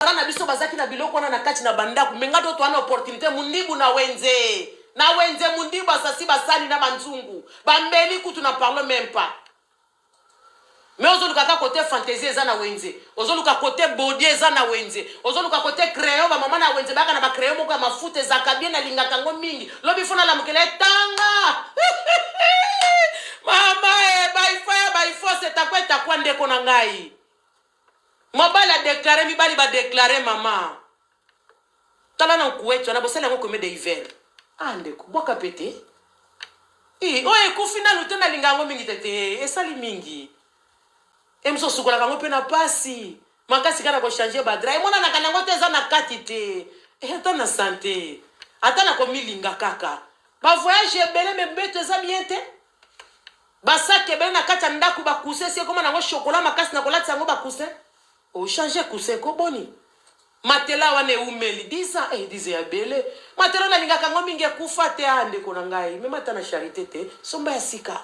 Bana na biso bazaki na biloko wana na kati na bandako me nga doto wana opportunité mundibu na wenze na wenze mundibu basasi basani na banzungu bambeli kutu na parle meme pas me ozoluka ka kote fantaisie eza na wenze ozoluka kote bodie eza na wenze ozoluka kote crayon bamama na wenze bayaka na bacrayon moko ya mafuta ezalaka bien nalingaka yango mingi lobi fona lamukela etanga mama e eh, baifaya baifosetakwetakwa ndeko na ngai Mobali a declare mibali ba declare mama tala na nkueti wana bosali yango combien de hiver ah ndeko bwaka pe te ii oyo ekufi nanu te nalinga yango mingi te te esali mingi emso osukolaka yango pe na pasi makasi kaka na kochange badra emonanaka nango te eza na kati te Eh, ata na sante ata na komilinga kaka bavoyage ebele me mbeto eza bien te Basaki ebele na kati ya ndako ba coussin si ekoma nango chocolat makasi na kolatisa yango ba coussin. O changer coussin ko boni? Matela wana eumeli 10 ans eh 10 ya ebele. Matela na lingaka yango mingi ekufa te ah ndeko na ngai. Mema ata na charité te. Somba ya sika.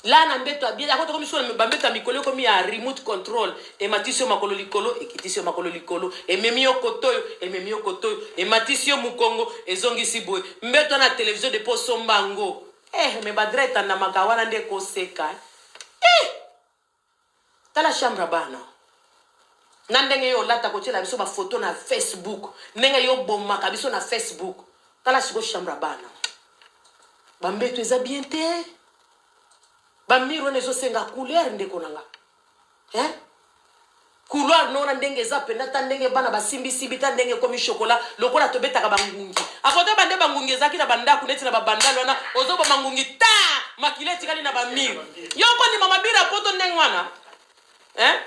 Là na mbeto ya bien yako tokomi sona ba mbeto ya mikolo ekomi ya remote control. Ematisi yo makolo likolo, ekitisi yo makolo likolo, ememi yo kote oyo, ememi yo kote oyo, ematisi yo mukongo, ezongisi boye. Mbeto wana ya television depuis osomba yango. Eh mais Badra etandamaka wana nde koseka eh. Eh! Tala chambre ya bana. Na ndenge yo olata kotiela biso ba photo na Facebook, ndenge yo obomaka biso na Facebook. Tala siko chambre ya bana. Ba mbeto eza bien te. Ba mur wana ezosenga couleur ndeko na nga. hein couloir nona ndenge eza pena ta ndenge bana basimbi simbi ta ndenge komi chocolat lokola tobetaka bangungi akoto bande bangungi ezalaki na bandako neti na babandal wana ozoboma ngungi ta makila etikali na bamir yo okondima mabira poto ndenge wana hein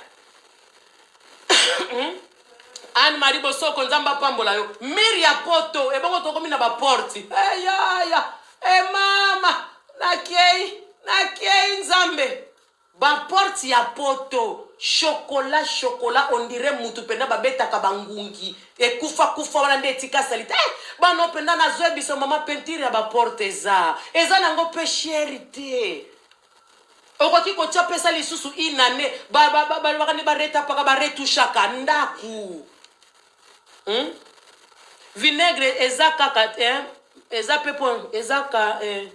hmm? anne marie bosoko nzambe apambola yo mir ya poto ebongo tokomi na baporti eyaya hey, emama nakei nakei nzambe Ba porte ya poto chocola chocola on dirait mutu penda ba betaka ba ngungi ekufa kufa wana nde etika salite eh bana oyo penda na zo yebisa maman peinture ya ba porte eza eza na ngo pe cher te okoki kotia pesa lisusu une annee ba ba ba ba ba ba retapaka ba retouchaka ndaku hmm? vinaigre eza kaka eh, eza pe po eza ka eh.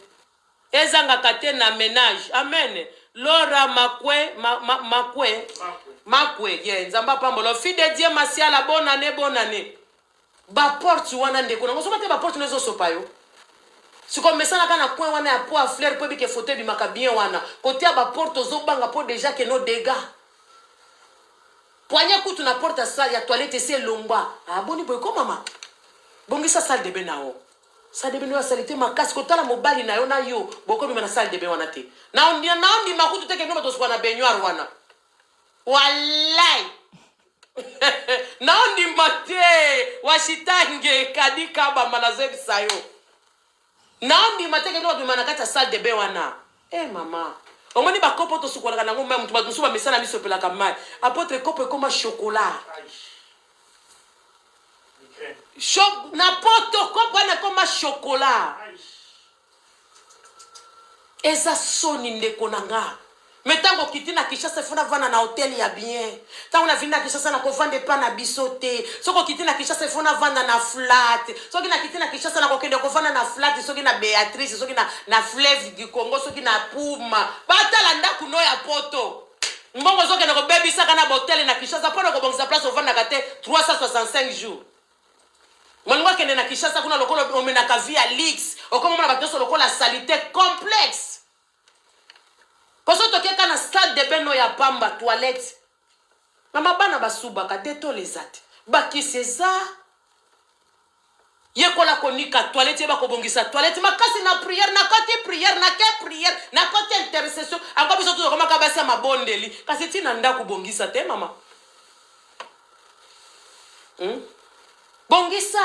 Ezangaka te na menage amen. Laura makwe ma, ma, makwe makwe ye yeah. Nzambe apambola yo fille de Dieu masiala bonne année bonne année. Ba porte wana ndeko nango soba te ba porte nezo sopa yo. Siko mesanaka na coin wana ya po a fleur po ebike photo ebimaka bien wana. Kote ya ba porte ozo banga po deja que no dégâts. Poignée kutu na porte ya salle ya toilette esi elongwa. Ah boni boye ko mama. Bongisa salle de bain na yo. sale de bain oyo salite makasi kotala mobali na yo na yo bokobima na sale de bain wana te naondima kutu te kendo batosuka na baignoire wana walai naondima te washitange kadi kabamba nazebisa yo naondima te kendo babima na kati ya sale de bain wana e eh, mama omoni bakopo tosukolaka nango mai moto bato mosusu bamesana misopelaka mai apotre kopo ekoma chokola na poto kopo wana ekoma shokola eza soni ndeko na nga me ntango okiti na kinshasa efo navanda na hotel ya bien ntango navindi na kinshasa nakovanda epa na biso te soki okiti na kinshasa efo navanda na flat soki nakiti na kinshasa nakokende kovanda na flat soki na beatrice soki na, na fleuve du congo soki na puma batala ndako no ya poto Mbongo ozokende kobebisaka na botele na Kinshasa mpo na kobongisa place ovandaka te 365 jours. Molingo akende na Kinshasa kuna lokola omenaka vie ya luxe, okomomona bato nyonso lokola salite complexe. Poso tokeka na salle de bain no ya pamba toilette. Mama bana basubaka detole eza te. Bakisi eza. Yekola konika toilette yeba kobongisa toilette makasi na prière na koti prière na ke prière na koti intercession ango biso tozakomaka basi ya mabondeli kasi ti na ndako bongisa te mama hmm? bongisa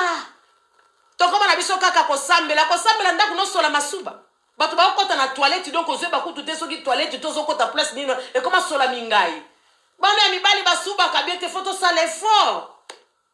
tokoma na biso kaka kosambela kosambela ndako nosola masuba bato bakokɔta na toilette donc ozweba kutu te soki toilette tozokɔta place nini ekoma sola mingai bana ya mibali basubaka bien te fo tosala effort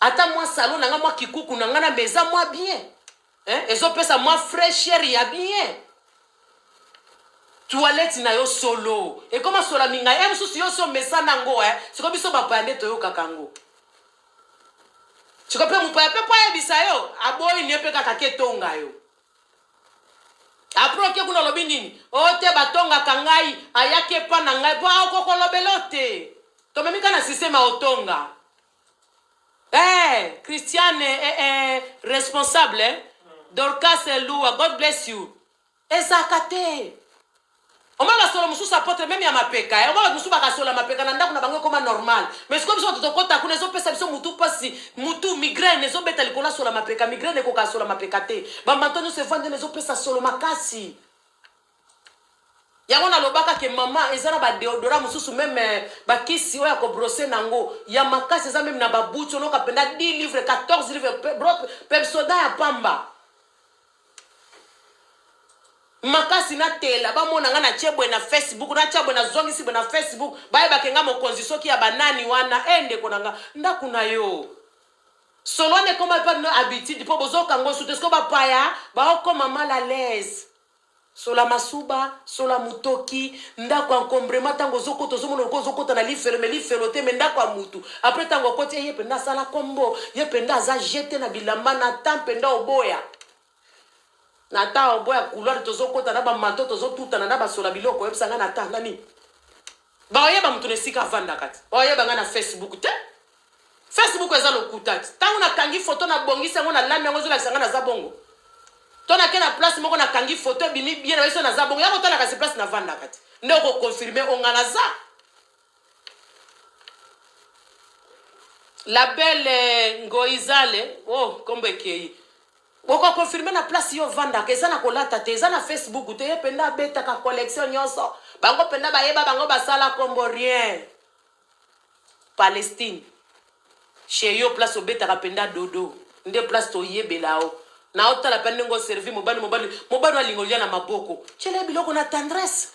Ata mwa salon na nga mwa kikuku na nga na mais eza mwa bien. Hein? Ezo pesa mwa fraîcheur ya bien. Toilette na yo solo. Ekoma sola minga ya mosusu yo so mesana ngo eh. Siko biso bapaya nde toyokaka ngo. Siko pe mupaya pe po ayebisa yo aboyi ne pe kaka ke tonga yo. Après oke kuna olobi nini? O te batongaka ngai ayaki epa na ngai po akokolobela yo te. Tomemi ka na système ya otonga. Eh, Christiane eh, eh, responsable eh? Dorcas Lua, God bless you. Ezaka te. Oma basolo mosusu apotre meme ya mapeka eh? Oma bato mosusu bakasola mapeka na ndako na bango ekoma normal mais sikoyo biso bato tokota kuna ezopesa biso mutu mpasi mutu migraine ezobeta likolo asola mapeka migraine ekoka asola mapeka te bambato nyonso evandi na ezopesa solo makasi yango nalobaka ke mama eza na badeodora mosusu meme eh, bakisi oyo ya kobrose na yango ya makasi eza meme na babuti oloka mpenza 10 livre 14 livre pe- bro- pepsoda ya pamba makasi natela bamona nga natye boye na facebook natya boye nazongisi boye na facebook bayebake nga mokonzi soki ya banani wana e ndeko na nga ndako na yo solo wana ekoma epa bino habitude mpo bozoka ngo sute siko bapaya baokoma mal à l'aise Sola masuba, sola mutoki, ndaku encombrement tango ozokota ozomona lokola ozokota na lifelo mais lifelo te mais ndaku ya mutu après tango okoti eh, ye penda asala kombo, ye penda aza jete na bilamba Nathan penda oboya Nathan oboya couloir tozokota na ba manteau tozotutana na ba sola biloko oyebisa nga Nathan na nini? Bakoyeba moto na esika avandaka te. Bakoyeba nga na Facebook te. Facebook eza lokuta te. Tango nakangi foto na bongisi yango na lami yango ezolakisa nga naza bongo. To na ke na place moko nakangi foto ebimi bien na biso naza bongo. Yako tala kasi place navandaka te. Nde oko confirmer o nga naza. La belle Ngoizale, oh kombo ekeyi. Oko confirmer na place yo ofandaka eza na kolata te eza na Facebook te ye penda abetaka collection nionso bango penda bayeba bango basala kombo rien Palestine chez yo place obetaka penda dodo nde place toyebela yo na otala pe ndenge oservi mobali mobali mobali alinga olia na maboko tiela ye biloko na tendresse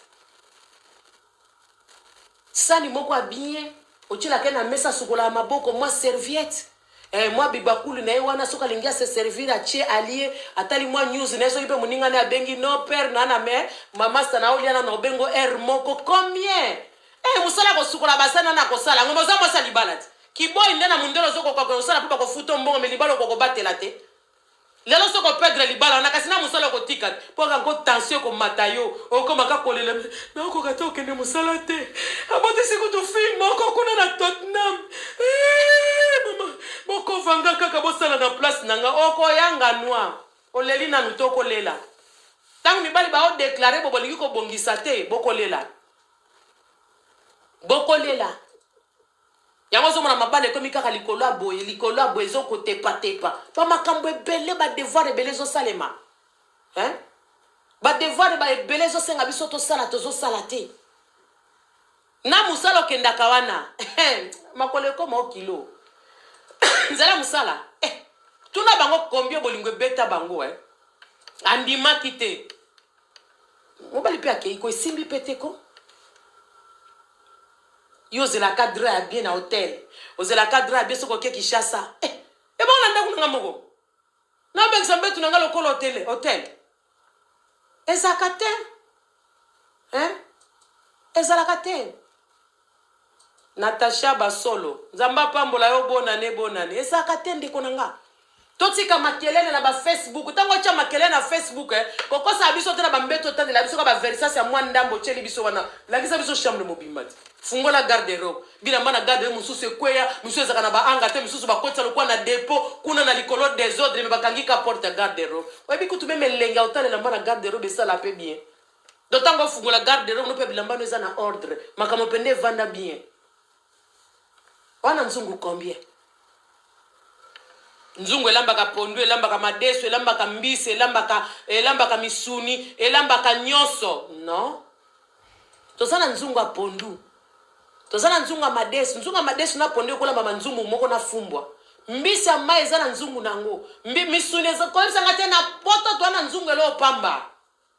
Sani moko ya bien otielaka ye na mesa asukolaka maboko mwa serviette eh, mwa bibakuli na ye wana soki alingi ase servir atie alie atali mwa news na ye soki mpe moninga na ye abengi no père na na mère mamasta na olia na na obengo heure moko combien eh mosala ya kosukola basani wana akosala yango mais oza mwasi ya libala te kiboy nde na mundele ozokoka kosala mpo bakofuta yo mbongo mais libala okokobatela te Lelo soki opedre libala wana kasi na mosala okotika te mpo kaka ko tension ekomata yo okoma kaka kolela nakokoka te okende mosala te abotisi kutu fille moko kuna na Tottenham Eh, mama bokovanga kaka bosala na place na nga okoyanga nwa oleli nanu te okolela ntango mibali baodeklare bo bolingi kobongisa te bokolela bokolela Yango ozomona mabala ekomi kaka likolo ya boye likolo ya boye ezokotepatepa bamakambo ebele badevoir ebele ezosalema hein? badevoir ba ebele ezosenga biso tosala tozosala te na mosala okendaka wana makolo ekoma o kilo nzela mosala eh, tuna bango kombio bolingo ebeta bango eh. andimaki te mobali mpe akei ko esimbi mpe te ko Yo ozelaka drap ya bien na hotel, ozelaka drap ya bien soki oke Kinshasa. Eh, ebongo na ndaku na nga moko. Na bengisa mbetu na nga lokola hotel, hotel. Ezalaka te. Hein? Ezalaka te. Natacha Basolo, Nzambe apambola yo bonane bonane. Ezalaka te ndeko na nga. Totika makelele na ba Facebook. Tango otia makelele na Facebook, eh, kokosa biso te na ba mbeto otandela biso ka ba versas ya mwa ndambo otieli biso wana. Lakisa biso chambre mobimba te. Fungola garde robe. Bilamba na garde robe mosusu ekweya, mosusu ezaka na ba anga te, mosusu bakotisa lokola na depot kuna na likolo desordre me bakangi ka porte ya garde robe. Oyebi kutu meme elengi ya otalela mba na garde robe esala pe bien. Donc tango ofungola garde robe no pe bilamba no eza na ordre. Makambo pende evanda bien. Wana nzungu combien? Nzungu elambaka pondu, elambaka madesu, elambaka mbisi, elambaka elambaka misuni, elambaka nyonso. Non. Toza na nzungu ya pondu. Toza na nzungu ya madesu. Nzungu ya madesu na pondu ekolamba ma nzungu moko na fumbwa. Mbisi ya mai eza na nzungu nango. Mbi, misuni eza koyebisa nga te na poto toa na nzungu eloo pamba.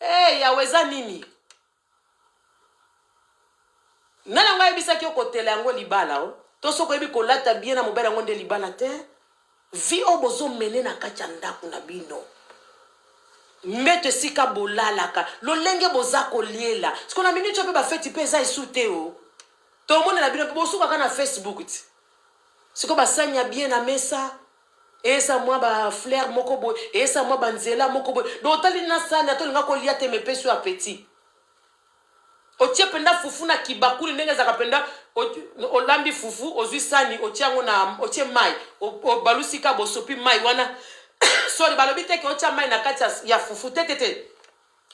Hee yawe eza nini nani yango ayebisaki yo kotela yango libala o to soki oyebi kolata bien na mobali yango nde libala te vi oyo bozomene na kati ya ndako na bino mbeto esika bolalaka lolenge boza koliela siko na miniti oyo mpe bafeti mpe eza esu te o tomonela bino mpe bosukaka na facebook ti siko basani ya bien na mesa Eza mwa ba flair moko boye, eza mwa ba nzela moko boye. Donc otali na sani ata olinga ko lia te mais epesi yo appetit. Otie penda fufu na ki bakuli ndenge ezalaka penda olambi fufu ozui sani otie yango na otie mayi obalusi ka bosopi mayi wana sorry balobi te ke otia mayi na kati ya fufu te te te.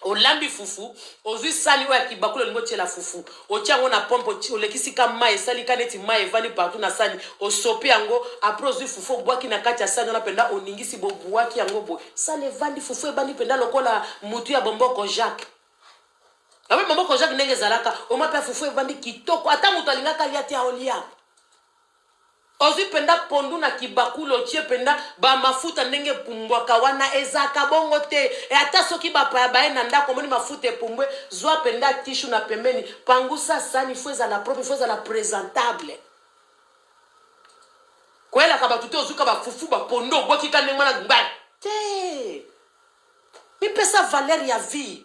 olambi fufu ozwi sani oyo ya kibakuli olingi otyela fufu otya yango na pompe olekisi ka mai esali ka neti mai evandi partout na sani osopi yango apres ozwi fufu obwaki na kati ya sani wana mpenza oningisi bobuaki yango boye sani evandi fufu ebandi mpenza lokola motu ya bomboko jacques abe bomboko jacques ndenge ezalaka omapia fufu evandi kitoko ata moto alingaka lia te aolia Ozui penza pondu na kibakuli otie penza ba mafuta ndenge epumbwaka wana ezalaka bongo te et ata soki ba paya baye na ndaku omoni mafuta epumbwe zua penza tissue na pembeni pangusa sani il faut ezala propre il faut ezala presentable koyelaka batu te ozui ka ba fufu ba pondu obwaki ka ndenge wana gba te mipesa valeur ya vie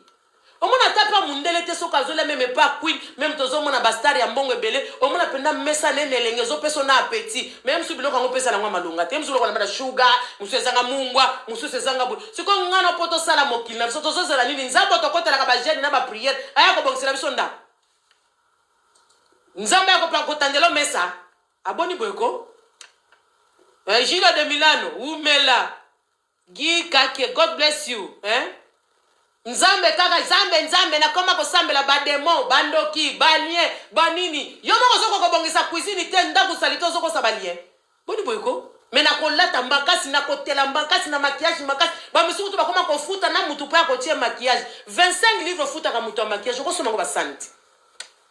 Omona ata pa mundele te soki azolia meme pa queen meme tozomona ba star ya mbongo ebele omona penda mesa ne nelengi ezopeso na appetit meme su biloko yango pesa nango malonga te msu lokola bana sugar musu ezanga mungwa musus ezanga boye siko ngana po tosala mokili na biso tozozela nini nzambe otokotelaka ba jeune na ba prière aya kobongisela biso ndako nzambe akopa kotandelo mesa aboni boye ko eh, Gilles de Milano wumela Guy Kakie God bless you hein Nzambe kaka Nzambe Nzambe nakoma kosambela ba demon ba ndoki ba lien ba nini yo moko ozoko kobongisa cuisine te ndaku salite ozokosa ba lien boni boye ko me nakolata makasi nakotela makasi na maquillage makasi bamisusu kutu bakoma kofuta na mutu mpo ya kotie maquillage 25 livre ofutaka moto ya maquillage okosomba ngo basani te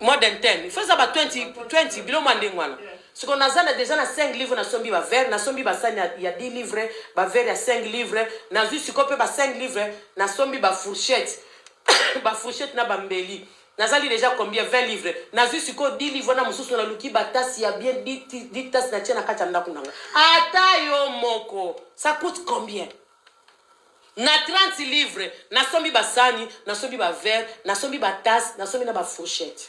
more than 10 il faut eza ba 20 20 biloko ya ndenge wana siko naza na deja na 5 livre nasombi ba verre nasombi basani ya, ya 10 livre ba verre ya 5 livre nazwi siko mpe ba 5 livre nasombi ba fourchette ba fourchette na bambeli nazali deja combien 20 livre nazwi siko 10 livre na mosusu naluki batasi ya bien 10 tasi natie na kati ya ndako na nga ata yo moko ça coûte combien Na 30 livres nasombi ba sani, nasombi ba verre, nasombi ba tasse, nasombi na ba fourchette.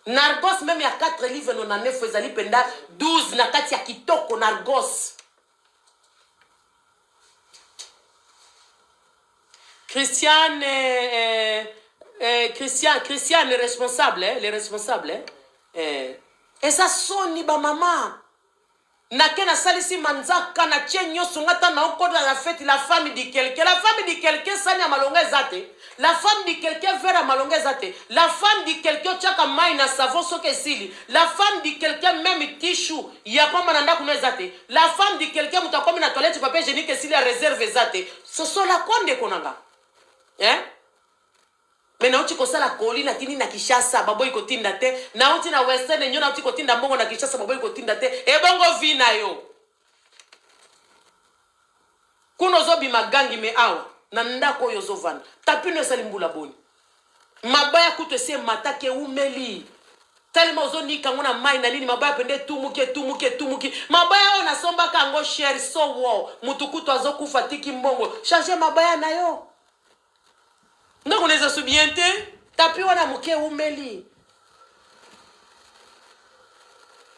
Nargos meme ya 4 livres no na nefo ezali penda 12 na kati ya kitoko Nargos. Christiane, euh, euh, Christian, Christiane, le responsable, eh, le responsable, eh, eh. Eza soni ba mama. nake nasalisi manzaka na tie nyonso nga ta naokota na feti la femme di quelque la femme di quelque sani ya malonga eza te la femme di quelque vere ya malonga eza te la femme di quelque otiaka mai na savon soki esili la femme di quelque meme tishu ya pamba na ndako no eza te la femme di quelque moto akomi na toilette papier hygiénique esili ya reserve eza te sosola ko ndeko na nga eh? Mais nauti kosala colis na tindi na Kinshasa baboyi kotinda te. Nauti na Western Union nauti kotinda mbongo na Kinshasa baboyi kotinda te. Ebongo vie na yo. Kuna ozobima gangi me awa na ndako oyo ozovanda. Tapino esali mbula boni? Mabaya kutu esi emataki eumeli. Talema ozonika yango na mai na nini mabaya pende etumuki etumuki etumuki. Mabaya oyo nasombaka yango cher so wo. Mutu kutu azokufa tiki mbongo. Change mabaya na yo. ndako neza su bien te tapi wana moke eumeli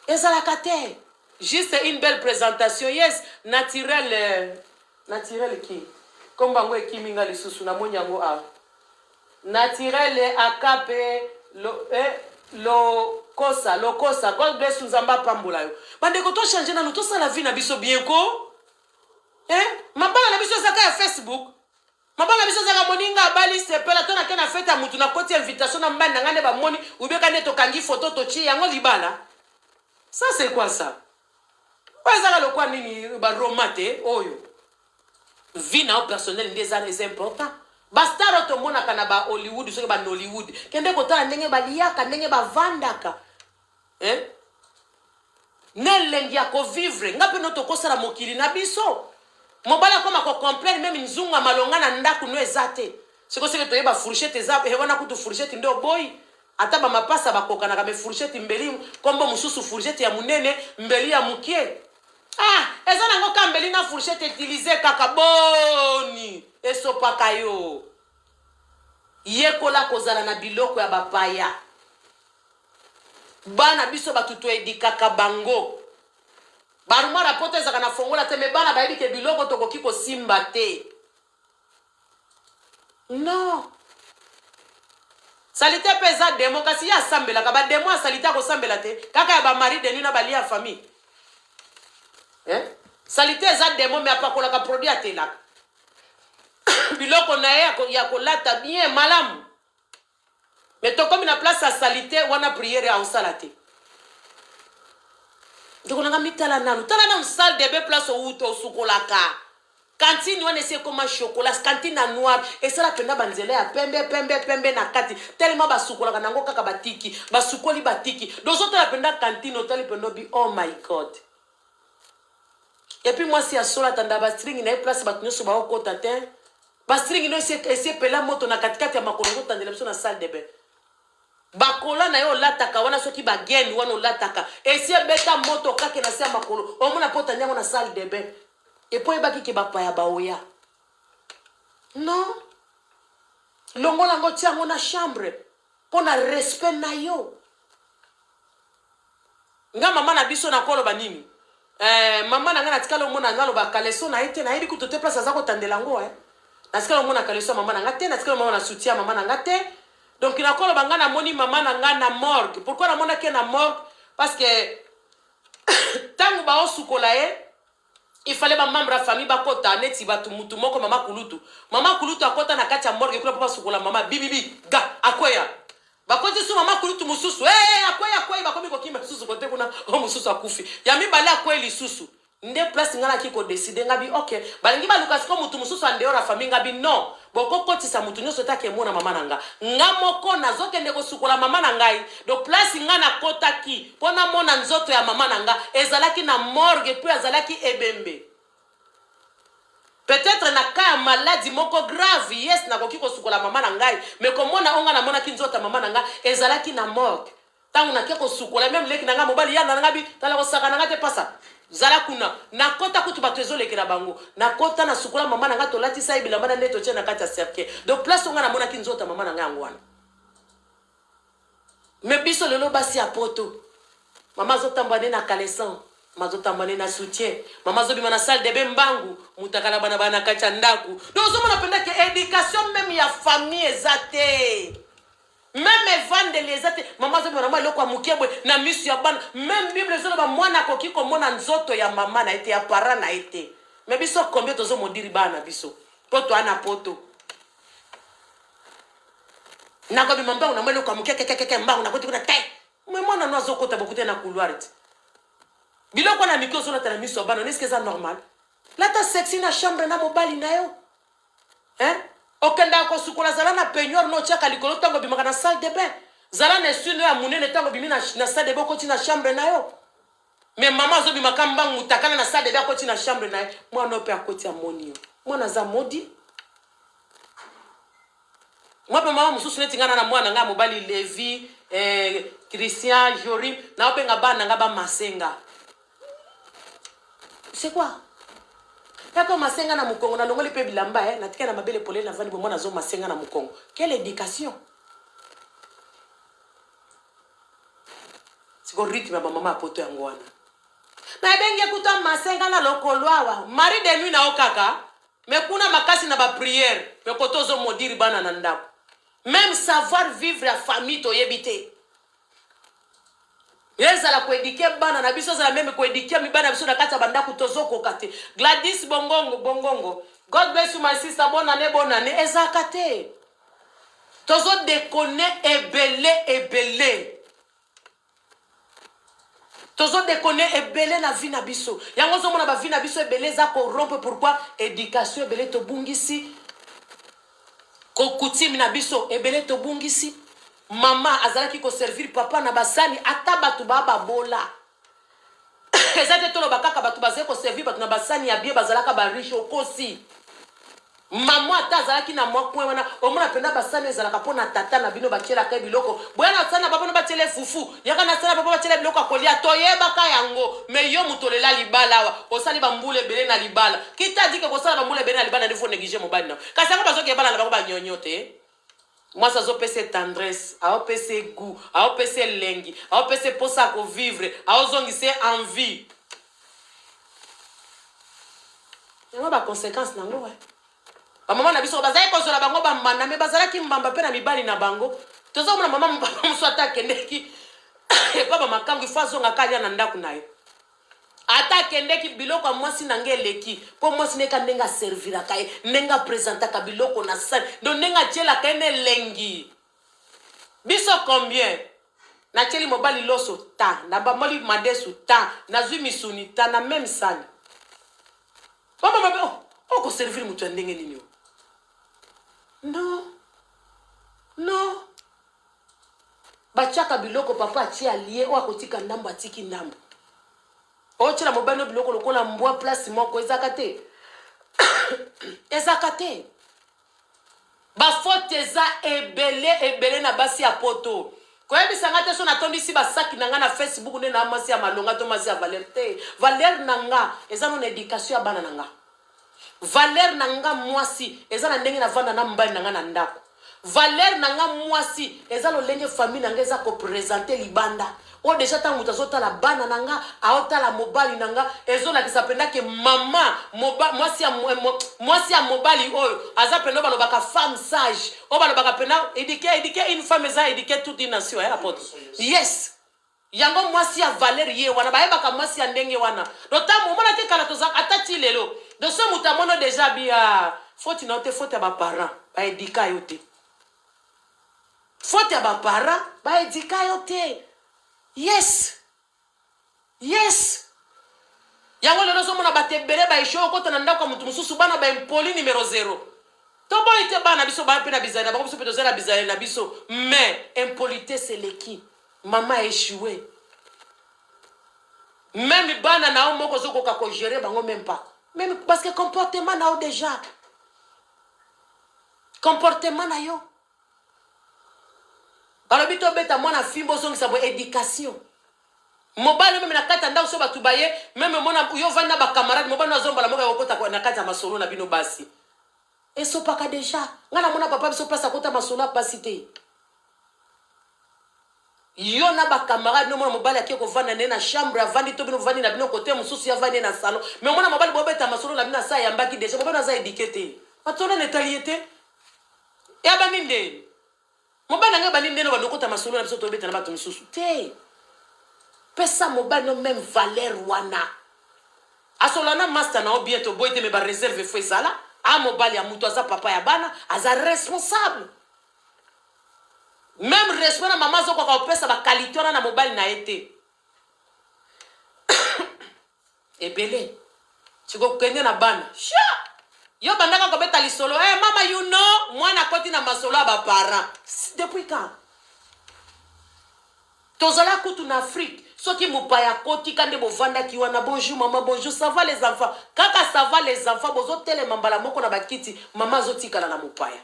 ezalaka te juste une belle présentation yes naturel euh, naturel ki kombo yango ekimi nga lisusu namoni yango awa naturel akape lo, eh, lokosa lokosa god bless nzambe apambola yo bandeko tochange nanu tosala vie na biso bien ko eh? mabala na biso ezaka ya facebook Maman na biso zaka moninga abali sepela to nake na fete ya mutu na koti invitation na mbani na ngai nde bamoni ubeka nde tokangi foto totie yango libala ça c'est quoi ça oyo ezaka lokwa nini ba roma te oyo vie na yo personnel nde eza eza important bastar oyo tomonaka na ba hollywood soki ba nollywood kende kotala ndenge baliyaka ndenge bavandaka eh? na elengi ya kovivre nga mpe no tokosala mokili na biso mobali akoma kocomplaine meme nzungu ya malonga na ndako no eza te sikoseke toyeba fourchette eza eh, wana kutu fourchette nde oboyi ata bamapasa bakokanaka me fourchette mbeli nkombo mosusu fourchette ya monene mbeli ya mokie ah eza nango ka mbeli na fourchette utilize kaka boni esopaka yo yekola kozala na biloko ya bapaya Bana biso batu to edikaka bango. Barumwa ya poto ezaka na fongola te me bana bayebi ke biloko tokoki kosimba te. Non. Salite pe eza demo kasi ye asambelaka ba demo ya salite akosambela te kaka ya ba mari de nuit na balia ya famille. Eh? Salite eza demo me apakolaka produit atelaka. biloko na ye ya kolata bien malamu Mais tokomi na place ya salite wana prière ya osala te. Ndeko nanga mitala nanu, tala nanu salle de bain place owuta osukolaka. Cantine wana esi ekoma chocolat, cantine na noir esala penda ba nzela ya pembe pembe pembe na kati tellement basukolaka nango kaka batiki, basukoli batiki. Dozo tala penda cantine otali penda bi oh my god. Epi mwasi ya sola tanda ba string na ye place bato nyoso baokota te. Ba string no esi esi epela moto na kati kati ya makolo ozo tandela biso na salle de bain. Ba kola na yo olataka wana soki ba gaine wana olataka esi ebeta moto okake na se ya makolo omona po otandi yango na salle de bain. Et po oyebaki ke ba paya ba oya. Non. Longola yango otia yango na chambre. Pona respect nayo nga maman na biso nako loba nini eh maman na nga natikali omona nga loba caleçon na ye te nayebi kutu te place aza kotandela ngo eh natikali omona caleçon ya maman na nga te natikali omona na soutien ya maman na nga te donc nako loba nga namoni maman na nga na morgue pourquoi namonaki ye na morgue parce que tango baosukola ye Il fallait ba membres ya famille bakota neti batu mutu moko mama kulutu. Mama kulutu akota na kati ya morgue kuna po basukola mama bibibi ga akweya. Bakoti su mama kulutu mususu. Eh hey, akweyi akweyi bakomi kokima lisusu kote kuna o mususu akufi. Ya mibale akweyi lisusu. Nde place nga naki ko decider nga bi okay. Balingi baluka siko mutu mususu en dehors ya famille nga bi non. Boko kotisa mutu nioso te ake mona mama na nga. Nga moko nazo kende ko sukola mama na ngai. Donc place nga na kotaki po na mona nzoto ya mama na nga ezalaki na morgue puis azalaki ebembe. Peut etre na cas ya malade moko grave yes nakoki ko sukola mama na ngai mais ko mona oyo nga na monaki nzoto ya mama na nga ezalaki na morgue. Tango na ke kosukola meme leki na nga mobali ya na nga bi tala kosaka na nga te pasa zala kuna na kota kutu bato ezolekela bango na kota na sukola mama na nga tolatisa ye bilamba na nde totie na kati ya cercueil donc place onga namonaki nzoto ya mama na nga yango wana me biso lelo basi ya poto mama azotambwa nde na caleson mazotamba nde na soutien mama azobima na salle debe mbangu mutakala bana bana kati ya ndako donc ozomona mpenza ke education meme ya famille eza te meme evandeli eza te mama azomi mama eloko ya moke boye na miso ya bana meme bible ezoloba mwana akoki komona nzoto ya mama na ye te ya para na ye te me biso combien tozomodiri bana na biso mpo toa na poto nakobima mbangu namo eloko ya moke kekekeke mbangu nakoti kuna te me mwana no azokota bokute na couloir te biloko wana mike ozolata na miso ya bana neske eza normal lata sexi na chambre na mobali na yo Hein? Okendaka kosukola zala na peignoir no tiaka likolo ntango obimaka na salle de bain. Zala na essuie no ya munene ntango obimi na, na salle de bain okoti na chambre na yo. Mais mama azobimaka mbangu mutakala na salle de bain akoti na chambre na ye. Mwana oyo mpe akoti amoni yo. Mwana aza modi. Mwa mpe mama mosusu neti ngai na na mwana ngai ya mobali Levi, eh, Christian, Jorim, naobenga bana ngai bamasenga. c'est quoi tata masenga na mukongo na longoli pe bilamba eh na tika na mabele polele na vandi bombo na zo masenga na mukongo quelle éducation siko rythme ya ba mama poto yango wana na ebenge kuta masenga na lokolo awa mari de nuit na yo kaka me kuna makasi na ba prière me koto ozo modire bana na ndako meme savoir vivre ya famille toyebi te ezala koedike bana na biso ezala meme koedike mibana na biso na kati ya bandako tozokoka te gladis bongongo bongongo god bless you my sister bonane bonane ezalaka te tozodekone ebele ebele tozodekone ebele na vi na biso yango ozomona bavi na biso ebele eza korompe pourkui education ebele tobungisi Ko coutume na biso ebele tobungisi. Maman azalaki ko servir papa na ba sani ata batu ba babola. Eza te toloba kaka batu bazali ko servir batu na ba sani ya bien bazalaka ba riche okosi. Maman ata azalaki na mwa coin wana omona pena ba sani ezalaka pona tata na bino batielaka ye biloko. Boya na sani na ba bino batiela ye fufu. Yaka na sala papa batiela biloko ya kolia toyebaka yango me yo moto olela libala awa osali bambula ebele na libala kita dike kosala bambula ebele na libala ndefo neglige mobali nao kasi yango bazoki ebala na bango banyonyo te mwasi azopesa ye tendresse aopesa ye gout aopesa elengi aopesa ye mposa ya kovivre aozongisa ye envie yango baconséquence nango eh. bamama na biso bazalaki kozwela bango bambanda me bazalaki mbamba mpe na mibali na bango toza komona mama mobaba mosusu ata akendeki epa bamakango ifo azongaka alia na ndako na ye ata akendeki biloko ya mwasi na ngai eleki mpo mwasi neka ndenge aserviraka ye ndenge apresentaka biloko na sani ndo ndenge atyelaka ye na elengi Biso combien? Natieli mobali loso ta, nabamboli madesu ta, nazui misuni ta na meme sani. Mama mabe, oh, oko oh, servir mutu ya ndenge nini yo? Non. Non. Batiaka biloko papa atie alie oyo akotika ndambo atiki ndambo. Otyela mobali no biloko lokola mbwa place moko ezaka te. ezaka te. Ba faute eza ebele ebele na basi ya poto. Koyebisa nga te so natondisi ba sac na nga na Facebook nde naa mwasi ya malonga to mwasi ya valeur te. Valeur na nga eza no na education ya bana na nga. Valeur na nga mwasi eza na ndenge na vanda na mbali na nga na ndako. Valeur na nga mwasi eza lolenge famille na nga eza ko presenter libanda. Po dejà tango moto azo tala bana na nga ao tala mobali na nga ezo lakisa penza ke maman moba mwasi ya mwasi ya mobali oyo aza penza oyo balobaka femme sage oyo balobaka penza eduquer eduquer une femme eza eduquer toute une nation hein apotre yes yango mwasi ya valeur ye wana bayebaka mwasi ya ndenge wana donc tango omona te kala toza ata ti lelo donc so moto amono dejà bia faute na yo te faute ya ba parents ba eduka yo te Faute ya ba parents ba educa yo te. Yes. Yes. Yango lelo ozomona bato ebele ba echoue okota na ndako ya moto mosusu bana ba impoli numero zero. Toboyi te bana biso baya mpe na bizali na bango biso mpe toza na bizali na biso mais impolitesse eleki mama echoue meme bana na yo moko ozokoka kogere bango meme pas meme parce que comportement na yo déjà Comportement na yo. Balobi to beta mwana fimbo ozongisa bo education. Mobali meme na kati ya ndako so bato baye meme mona yo vandi na ba camarade mobali na zomba la moka kokota na kati ya masolo na bino basi. Esopaka deja. Nga na mona papa biso place akota masolo ya pasi te. Yo na ba camarade no mona mobali ake kovanda ne na chambre avandi to bino vandi na bino kote mususu ya vandi na salon mais mona mobali bo beta masolo na bino asa ya mbaki deja bo bino aza edike te patona ne tali ye te ya bandi nde mobali ngai bandi nde no bando kota masolo na biso to beta na bato mususu te pesa mobali no même valeur wana asola na master na obien to boite mais ba reserve fo ezala a mobali ya mutu aza papa ya bana aza responsable Meme respect na mama azokoka kopesa ba qualité wana na mobali na ye te. Ebele. Siko kende na bana. Sha! Yo bandaka kobeta lisolo. Eh mama you know mwana akoti na masolo ya ba parents. Si- Depuis quand? tozala kutu na afrique soki mopaya akotika nde bovandaki wana bonjour mama bonjour ça va les enfants kaka ça va les enfants bozotelema mbala moko na bakiti mama azotikala na mopaya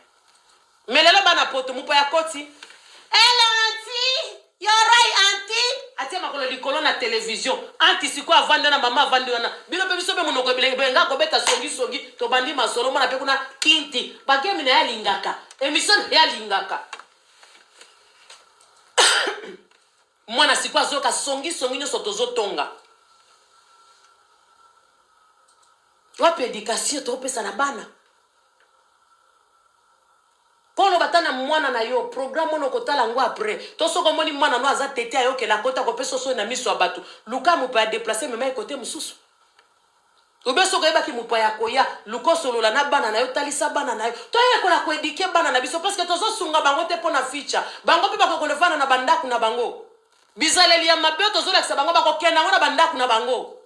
Mais lelo bana poto mopaya koti Hello anti, you're right anti. Atie makolo likolo na television. Anti siko avandi wana mama avandi wana. Bino pe biso pe monoko ebele benga kobeta songi songi tobandi masolo mona pe kuna kinti. Bagemi na ya lingaka. Emission ya lingaka. mwana siko azoyoka songi songi nyonso tozotonga wapi education tokopesa na bana Polo bata na mwana na yo programme wana okotala yango après to soki omoni mwana no aza tete ayokela akota kopesa osoni na miso ya bato luka mopaya deplace mema ye kote mosusu obe soki oyebaki mopaya ya koya luka osolola na bana na yo talisa bana na yo toyekola koedike bana na biso parceke tozosunga bango te mpo na ficha bango mpe bakoki kolevana na bandako na bango bizaleli ya mabe oyo tozolakisa bango bakokenda yango na bandako na bango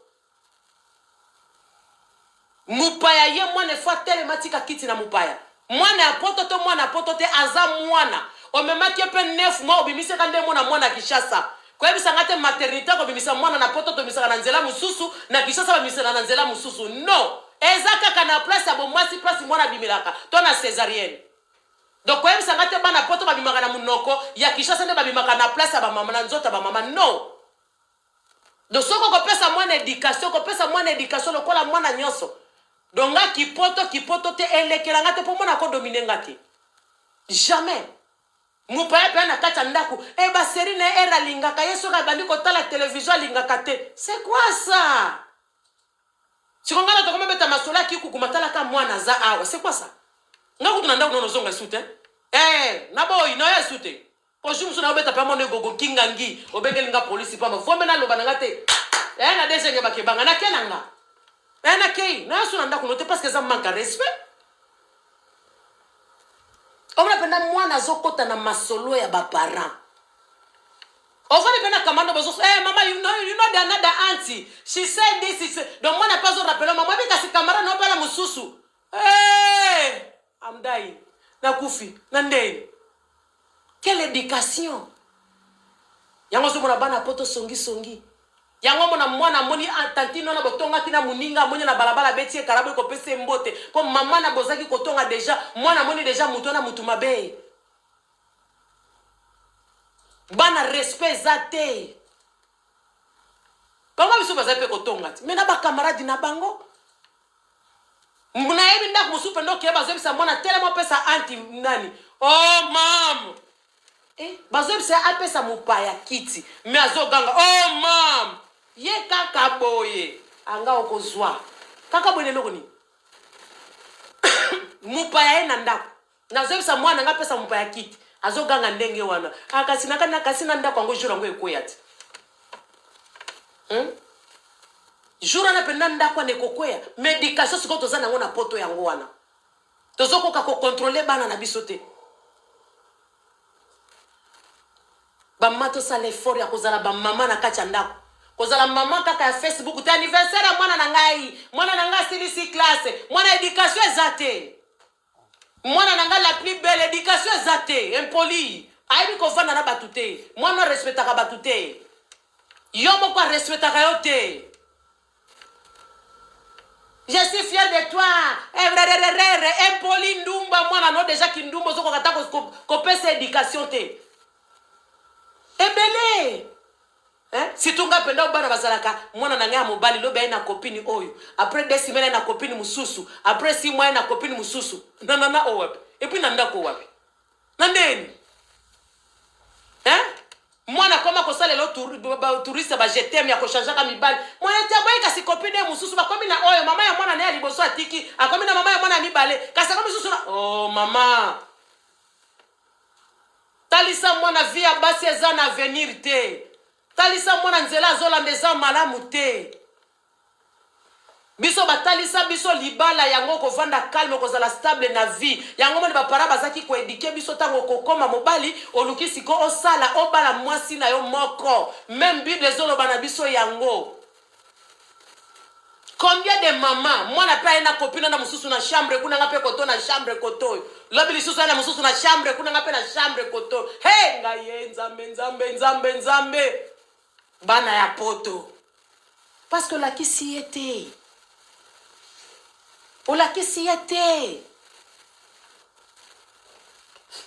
Mupaya ye mwana il faut atelema atika kiti na mupaya mwana ya poto to mwana ya poto te aza mwana omemaki ye pe 9 mois obimisi ka nde mona mwana ya Kinshasa koyebisa nga te maternite kobimisa mwana na poto tobimisaka na nzela mususu na Kinshasa babimisaka na nzela mususu non eza kaka na place ya bomwasi place mwana abimelaka to na cesarienne donc koyebisa nga te bana poto babimaka na munoko ya Kinshasa nde babimaka na place ya ba mama na nzoto ya ba mama non Donc soki okopesa mwana education, kopesa mwana education lokola mwana nyonso. Donc nga kipoto kipoto te elekela nga te po mwana ko dominer nga te. Jamais. Mopaya paya na kati ya ndako, eh ba série na era lingaka ye soki abandi kotala television alingaka te. C'est quoi ça? Siko nga na tokoma beta masolo ya kikuku matala ka mwana aza awa. C'est quoi ça? Nga kutu na ndako nono zonga sute. Eh, na boyi na ya sute. Po jour mosusu na yo beta pe mono egogo kingangi obengeli nga police pamba vombe na loba na nga te eh na desenge ba kebanga na kena nga eh na kei na yasu na ndaku no te parce que eza manque à respect omona penda mwana azokota na masolo ya ba parents ofani mpe na kamando bozo eh mama you know you know the another auntie she said this is donc mwana mpe azo rappela mama bi kasi kamara na opala mosusu eh Amdayi na kufi na ndeyi quelle education yango ozo mona bana poto songi songi yango mona mwana amoni ah, tantine wana botongaki na muninga amoni na balabala abeti ye kalabu ekopesa ye mbote po mama na bozaki kotonga deja mwana amoni deja mutu wana mutu mabe bana respect eza te Bango misusu bazali mpe kotonga ti me na bakamaradi na bango nayebi ndako mosusu mpe ndoki ye bazoyebisa mwana telema opesa anti nani o oh, mam eh, bazoyebisa ye apesa mopaya kiti me azoganga o oh, mam ye kaka boye anga okozwa kaka boye na eloko nini mopaya ye na ndako Nazo yebisa mwana na nga apesa mopaya kit azo ganga ndenge wana ah kasi na kana kasi na ndako yango jour yango ekweya ti hmm? jour wana mpenza ndako wana ekokweya medication sikoyo toza nango na poto yango wana tozokoka kokontrole bana na biso te bamama tosala effort ya kozala bamama na kati ya ndako kozala mama kaka ya facebook te anniversaire ya mwana na ngai mwana na ngai asilisi classe mwana education eza te Mwana na nga la plus belle education eza te impoli ayebi kovanda na batu te mwana oyo respectaka batu te yo moko a respectaka yo te je suis fier de toi erererere impoli ndumba mwana no deja kindumba ozokoka ata kopesa education te ebele Hein? Surtout nga penda obana bazalaka mwana na nga ya mobali lobi aye na copine oyo après deux semaines aye na copine mususu après six mois aye na copine mususu na nana oyo wapi et puis na ndako wapi na ndeni hein mwana akoma kosalela touriste ba je t'aime ya kochangeaka mibali mwana te aboyi kasi copine ye mosusu bakomi na oyo mama ya mwana na ye ya liboso atiki akomi na mama ya mwana ya mibale kasi akomi mosusu na oh mama Talisa mwana vie ya basi eza na avenir te. Talisa mwana nzela azolanda eza malamu te. Biso batalisa biso libala yango kovanda calme kozala stable na vie. Yango moni bapara bazaki koedike biso ntango kokoma mobali oluki siko osala obala mwasi na yo moko. Meme Bible ezoloba na biso yango. combien de mama mwana mpe aye na kopino na mosusu na chambre kuna nga mpe koto na chambre koto lobi lisusu aye na mosusu na chambre kuna nga mpe na chambre koto he ngai ye nzambe nzambe nzambe nzambe bana ya poto parce que olakisi ye te olakisi ye te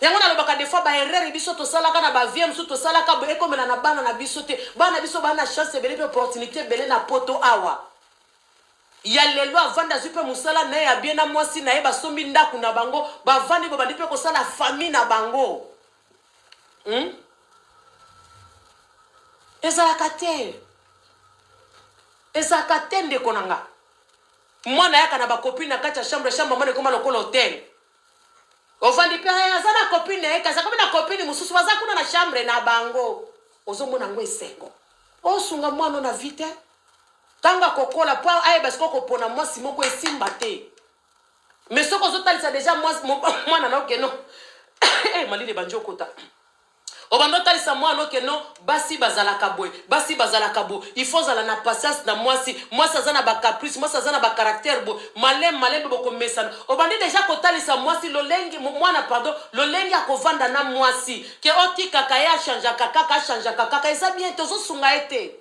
yango nalobaka des fois baerreur biso tosalaka na bavie mosusu tosalaka boye ekomela na bana na biso te bana na biso baa na chance ebele mpe opportunité ebele na poto awa ya lelo avandi azwi mpe mosala na ye ya bie na mwasi na ye basombi ndako na bango bavandi babandi mpe kosala famille na bango hmm? ezalaka te ezalaka te ndeko na nga mwana yaka na bakopine na kati ya chambre chambre mwana ekoma lokola hotel ovandi mpe eh, aza na copine na ye kasi akomi na copine mosusu baza kuna na chambre na bango ozomona yango esengo osunga mwana na vi te ntango akokola mpo ayeba sikoyo kopona mwasi moko esimba te mais soki ozotalisa deja mwana na okeno eh, malili ebandi okota Obanda otalisa mwana no que no basi bazalaka boye basi bazalaka bo il faut ozala na patience na mwasi mwasi aza na ba caprice mwasi aza na ba caractère bo malem malembe bokomesana obandi deja kotalisa mwasi lolenge mo- mwana pardon lolenge akovanda na mwasi ke otikaka ye achangeaka kaka achangeaka kaka eza bien te ozosunga ye te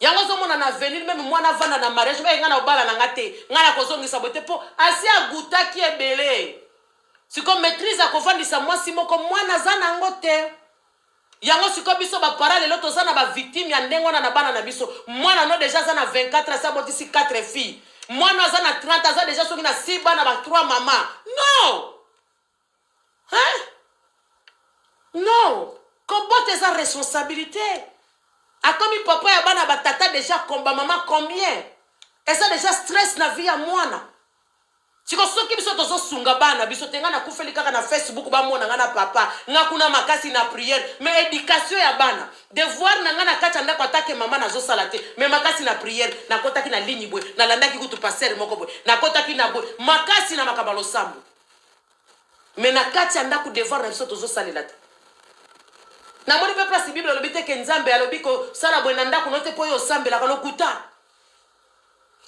Yango ozomona na avenir meme mwana avanda na mariage oyo nga na obala na nga te nga na kozongisa boye te mpo asi agutaki ebele siko maîtrise ya kovandisa mwasi moko mwana aza na yango te yango siko biso bapara lelo toza na bavictime ya ndenge wana na bana na biso mwana no deja aza na 24 asi abotisi 4 fille mwana aza na 30 aza deja soki na 6 bana ba 3 mama non Hein? Non, kobota eza responsabilite. Akomi papa ya bana ba tata deja komba mama combien? Eza deja stress na vie ya mwana. Siko soki biso tozo sunga bana biso te nga na kufeli kaka na Facebook ba mona nga na papa nga kuna makasi na prière mais éducation ya bana devoir na nga na kati ndako atake mama nazo sala te mais makasi na prière nakotaki na ligne boye nalandaki kutu pasteur moko boye nakotaki na boye makasi na makaba losambo me na kati ya ndako devoir na biso tozosalela te namoni mpe place bible alobi te ke nzambe alobi kosala boye na ndako no te mpo yo osambelaka lokuta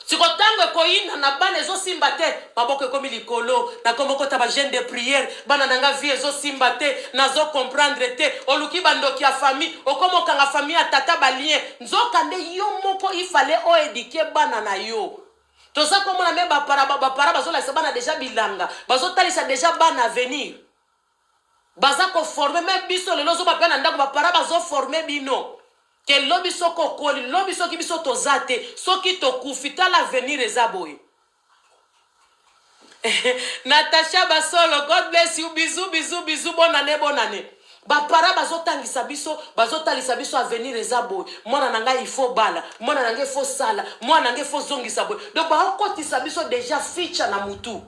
siko ntango ekoyina na bana ezosimba te maboko ekomi likolo nakomi okota bagene de priere bana na nga vie ezosimba te nazo comprendre te oluki bandoki ya famille okomi okanga famille ya tata balien nzoka nde yo moko ifale oedike bana na yo toza komona me bapara bapara bazolakisa bana deja bilanga bazotalisa deja bana avenir baza koforme me biso lelo ozoba mpe na ndako bapara bazoforme bino ke lobi soki okoli lobi soki biso toza te soki tokufi tala avenir eza boye Natacha Basolo, God bless you. Bisous, bisous, bisous. Bonne année, bonne année. Ba para bazotangisa biso, bazotalisa biso avenir eza boye. Mwana na ngai il faut bala, mwana na ngai faut sala, mwana na ngai faut zongisa boye. Donc bakotisa biso déjà feature na mutu.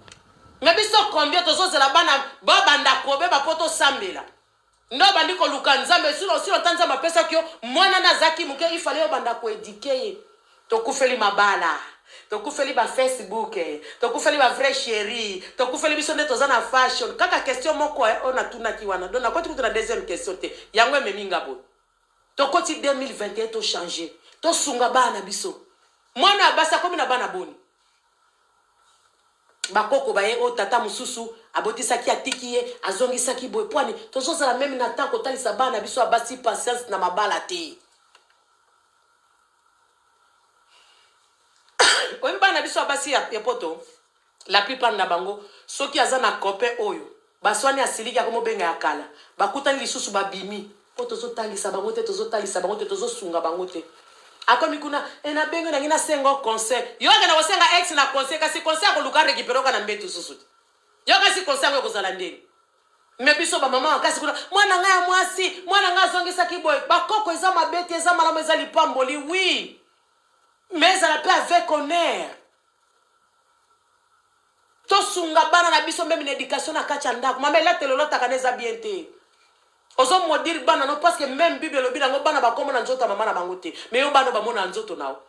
Mais biso combien tozozela bana babanda kobe bapoto sambela. Nde obandi koluka nzambe sur osila ota nzambe apesaki yo muana nde azaki muke il fallait obanda ko eduquer ye tokufeli mabala tokufeli ba Facebook tokufeli ba vrai cherie tokufeli biso nde toza na fashion kaka question moko eh, oyo natunaki wana donc nakoti kutu na deuxième question te yango ememi nga boye tokoti 2021 to changer tosunga bana biso mwana ya basi akomi na bana boni ba koko ba ye oyo tata mususu abotisaki atiki ye azongisaki boye pwani tozozala meme na temps kotalisa bana biso ya basi patience na mabala te oyebi bana biso ya basi ya poto la plupart na bango soki aza na copain oyo Baswani asiliki akomo benga ya kala bakutani lisusu babimi po tozo talisa bango te tozo talisa bango te tozo sunga bango te akomi kuna eh na bengi yo nangi na senga yo conseil yo akenda kosenga ex na conseil kasi conseil akoluka recupere oka na mbetu susu te yo kasi conseil yango ekozala ndenge me biso bamama makasi kuna mwana ngai ya mwasi mwana ngai azongisaki boye bakoko eza mabe te eza malamu eza lipamboli wi me ezala mpe avec honneur Tosunga bana na biso meme na education na kati ya ndako. Mama elatelo lataka na eza bien te. Ozo maudire bana no parce que meme Bible elobi nango bana bakoma na nzoto ya mama na bango te. Mais yo bana bamona na nzoto nao.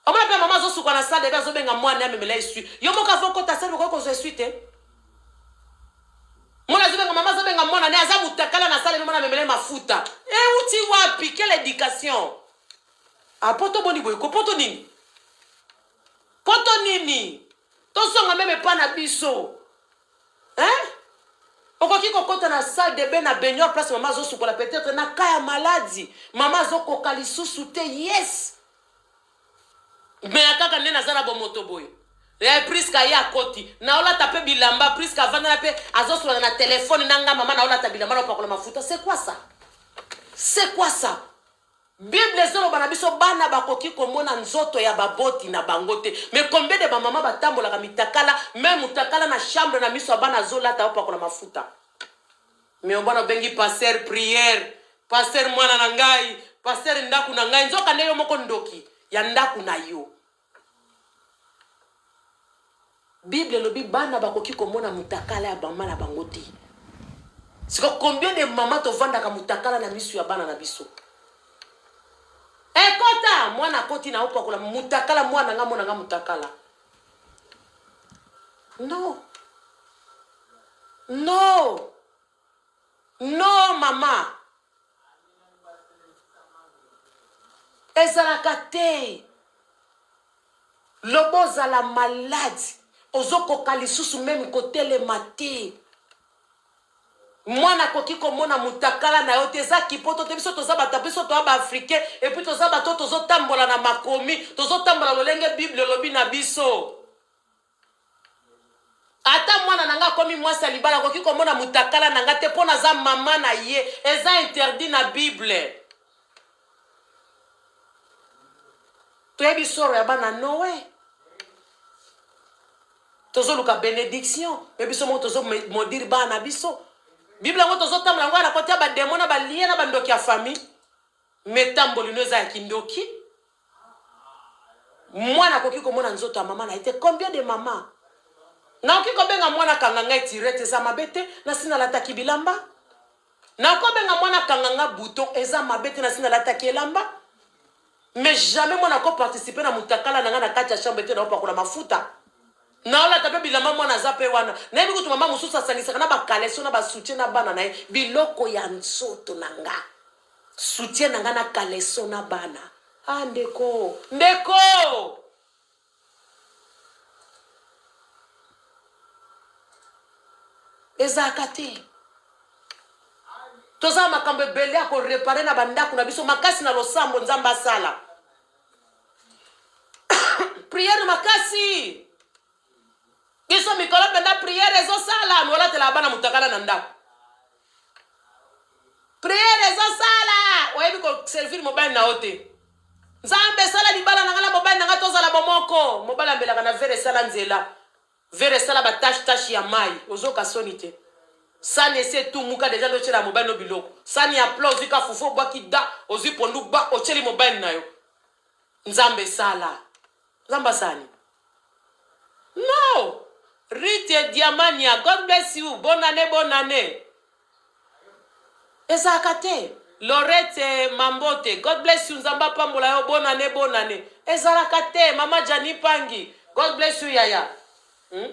Omona pe mama azosuka na salle de azobenga mwana amemela esui. Yo moko avo kota salle okoki kozwa esui te. Mwana azobenga mama azobenga mwana ne aza mutakala na salle mwana amemela mafuta. Eh uti wapi quelle éducation? Apoto ah, boni boye ko poto nini? Poto nini? Tozonga meme epa na biso. Hein? okoki kokota na salle de bain na baignoire place mama azosukola peut-être na ka ya maladi mama azokoka lisusu te yes meya kaka nde naza na bomoto boye eh, priska ye akoti naolata mpe bilamba priska avandana mpe azosolana na telefone na ngai mama naolata bilamba naopakola mafuta c'est quoi ça c'est quoi ça Bible ezoloba na biso bana bakoki komona nzoto ya baboti na bango te mais combien de bamama batambolaka mitakala meme mutakala na chambre na miso ya bana azolata bapakola mafuta mais obana obengi pasteur prière pasteur mwana na ngai pasteur ndaku na ngai nzoka nde yo moko ndoki ya ndaku na yo Bible elobi bana bakoki komona mutakala ya mama na bango te. Siko combien de mama tovandaka mutakala na misu ya bana na biso? Ekota eh, mwana akoti na opakola mutakala mwana nga mona nga mutakala. Non. Non. Non maman ezalaka te loba ozala malade ozokoka lisusu meme kotelema te mwana akoki komona mutakala na yo te eza kipoto te biso toza bato biso toa baafricain epuis toza bato tozotambola na makomi tozotambola lolenge bible elobi na biso ata mwana na nga akomi mwasi ya libala akoki komona mutakala na nga te mpo naza mama na ye eza interdit na bible toyebi soro ya bana noe tozoluka benediction mpe biso moko tozomodire bana na biso bible yango tozotambola yango na kotya bademo na balie na bandoki ya famille metamboli no eza ya kindoki Mwana akoki komona nzoto ya mama na ye te combien de mama naoki kobenga mwana kanga ngai tirete eza mabe te nasi nalataki bilamba naoki obenga mwana kanga nga bouton eza mabe te nasi nalataki elamba mais jamais mwana ko participer na mutakala na nga na kati ya chambre te naopakola mafuta naolata mpe bilamba mwana aza mpe wana nayebi kutu mama mosusu asangisaka na bakaleso na basoutien na bana na ye biloko ya nzoto na nga Soutien na nga na caleçon na bana ah ndeko ndeko. Ezalaka te toza na makambo ebele ya ko reparer na bandako na biso makasi na losambo nzambe asala priere makasi biso mikolo mpenza priere ezosala molatalaka bana motakala na ndako priere ezosala oyebi koservire mobali na yo te nzambe esala libala na ngai na mobali na ngai tozala bomoko mobali ambelaka na vere esala nzela vere esala batashe tashe ya mai ozoka soni te sani esi etumuka deja nde otyela mobali no biloko sani ya pla ozwi ka fufu obwaki da ozwi pondu gba otyeli mobali na yo Nzambe sala nzambe azali no rite diamania god bless you bonne annee bonne annee ezalaka te lorete mambote god bless you nzambe apambola yo bonne annee bonne annee ezalaka te mama jani pangi god bless you yaya hmm?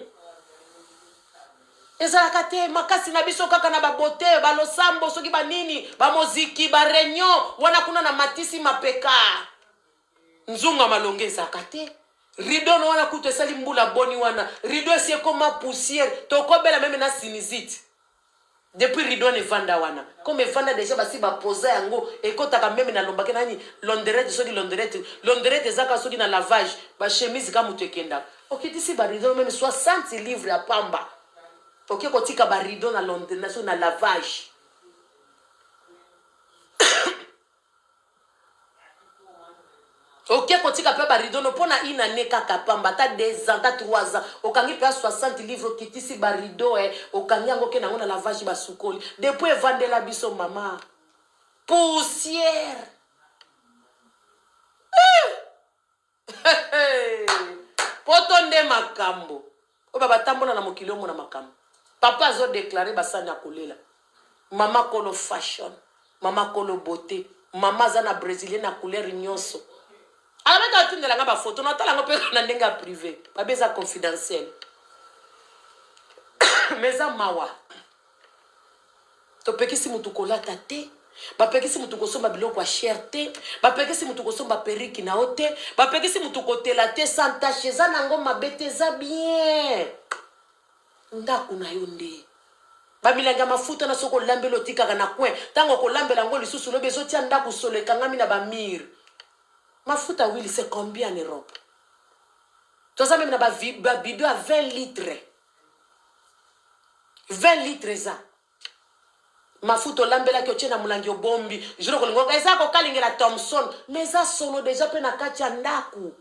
ezalaka te makasi na biso kaka na babote balosambo soki banini bamoziki bareunion wana kuna na matisi mapeka nzunga malonga ezalaka te rido na wana kutu esali mbula boni wana rido esi ekoma poussière tokobela meme na sinizite Depuis ridwan evanda wana comme evanda dejà basi ba posa yango ekotaka meme na lombake nani londerette soki londerette londerette eza kaka soki na lavage ba chemise kaka mutu ekendaka okitisi ba rideau meme 60 livres ya pamba oke kotika ba rideau na londr na soki na lavage Oke kotika pe ba rideaux no po na une annee kaka pamba ata deux ans ata trois ans okangi penza 60 livres okitisi ba rideaux eh okangi yango oke nango na lavage ba sukoli depuis evandela biso mama poussière eh! poto nde makambo oyo babatambola na mokili omona makambo papa azodeklare basani akolela mama kolo fashion mama kolo bote mama aza na brésilien na couleur nyonso alabaki atindela nga bafoto natala yango mpe na ndenge ya privé babe eza confidentiel mais eza mawa topekisi motu kolata te bapekisi motu kosomba biloko ya shere te bapekisi motu kosomba periki na yo te bapekisi motu kotela te santashe eza na yango mabe te eza bien ndako na yo nde bamilangi ya mafuta na soki olambeli otikaka na coin ntango okolambela yango lisusu lobi ezotia ndako solo ekangami na bamire mafuta wili se combien en europe toza meme na babido ya 20 litre 20 litre eza mafuta olambelaki otie na molangi obombi juro kolingo eza kokalingela thomson ma eza solo deja mpe na kati ya ndako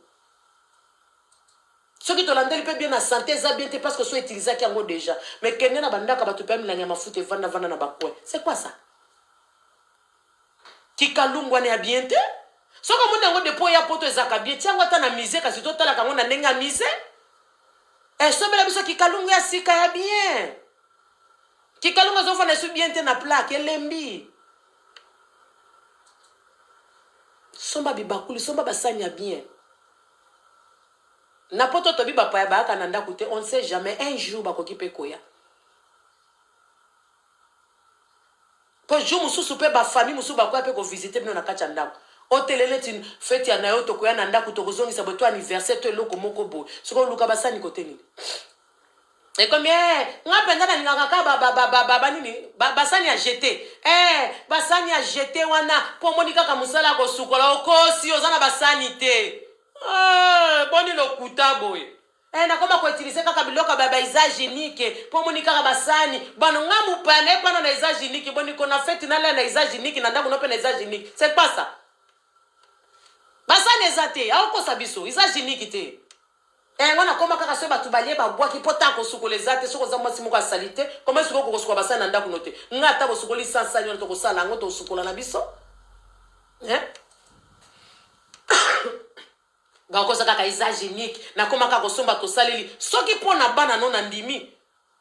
soki tolandeli mpe bien na sante eza bien te parce que so utilisaki yango deja mais kende na bandako ya bato mpe milangi ya mafuta evanda vanda na bacoin c'est quoi ça Kikalungu wana ya bien te. Soki omoni yango depuis oya poto ezalaka bien, tia yango ata na musee kasi totalaka yango na ndenge ya musee. Eh, sombela biso kikalungu ya sika ya bien. Kikalungu ezofanda esu bien te na plaque, elembi. Somba bibakuli, somba basani ya bien. Na poto tobi bapaya bayaka na ndako te, on ne sait jamais, un jour bakoki pe koya. Po jour mususu pe ba famille mususu bakoya pe ko visiter bino na kati ya ndaku. O tele neti feti ya nayo tokoya na ndaku toko zongisa boye to anniversaire to eloko moko boye. Sikoyo luka ba sani cote nini? Ekomi eh nga penza na lingaka ka ba ba ba ba ba nini ba, ba sani ya jete eh ba sani ya jete wana po omoni kaka musala ya kosukola okosi oza na ba sani te eh boni lokuta boye. Eh, nakoma ko utiliser kaka biloko ba ba usage unique po moni kaka basani bano nga mupana epana na usage unique boni kona fete na la na usage unique na ndako nope na usage unique c'est pas ça basani eza te aokosa biso usage unique te yango eh, nakoma kaka soki bato balie babwaki mpo ntango kosukola eza te soki oza mwasi moko ya sali te koma esuki okokosukola basani na ndako no te ngai ata bosukoli sansani wana tokosala yango tosukola na biso eh? Nakosa kaka usage unique, nakoma kaka kosomba tosaleli soki po na bana no na ndimi.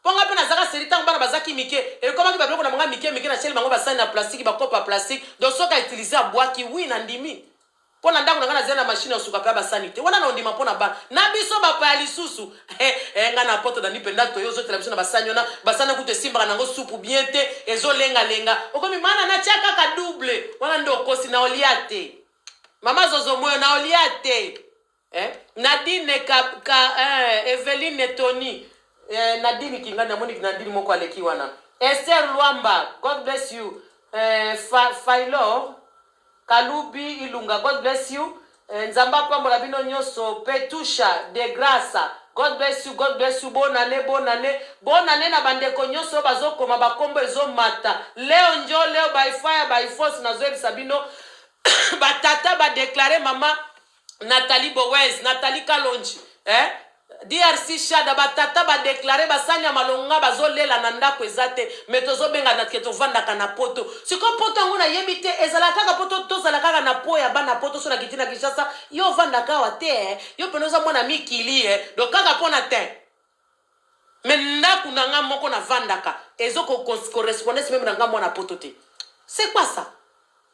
Po nga pe nazaka seri tango bana bazaki mike, ekomaki ba biloko na banga mike mike na tieli bango ba sani na plastique, ba cope ya plastique, donc soki a utilise abuaki oui na ndimi. Po na ndaku na nga nazali na machine ya suka pe ya ba sani te, wana na ondima po na bana. Na biso ba paya lisusu eh eh nga na poto nandi penda toyo ozo tela biso na ba sani wana, ba sani wana kutu esimbaka nango supu bien te, ezo lenga lenga, okomi mana natia kaka double, wana nde okosi, na olia te. Mama Zozo moyo na olia te. Eh? Nadine ka, ka eh, Eveline Tony eh, Nadine Kingani amoni ki Nadine moko aleki wana. Esther Luamba, God bless you. Eh, fa, Failor Kalubi Ilunga, God bless you. Eh, Nzambe apambola bino nyonso. Petusha de Graça, God bless you, God bless you. Bonne année, bonne année. Bonne année na bandeko nyonso oyo bazokoma bakombo ezomata. Leo njo leo by fire by force nazoyebisa bino ba tata ba declare mama Nathalie Bowez, Nathalie Kalonji, eh? DRC Shada ba tata ba declare ba sanya malonga bazolela na ndako eza te me tozobenga na ke tovandaka na poto siko poto yango nayebi te ezala kaka poto tozala kaka na po ya bana poto so nakiti na Kinshasa yo ovandaka awa te eh? yo pene oza mwana mikili eh? do kaka mpo na te Mais ndaku na nga moko na vandaka ezo ko correspondes meme na nga mwana poto te c'est quoi ça?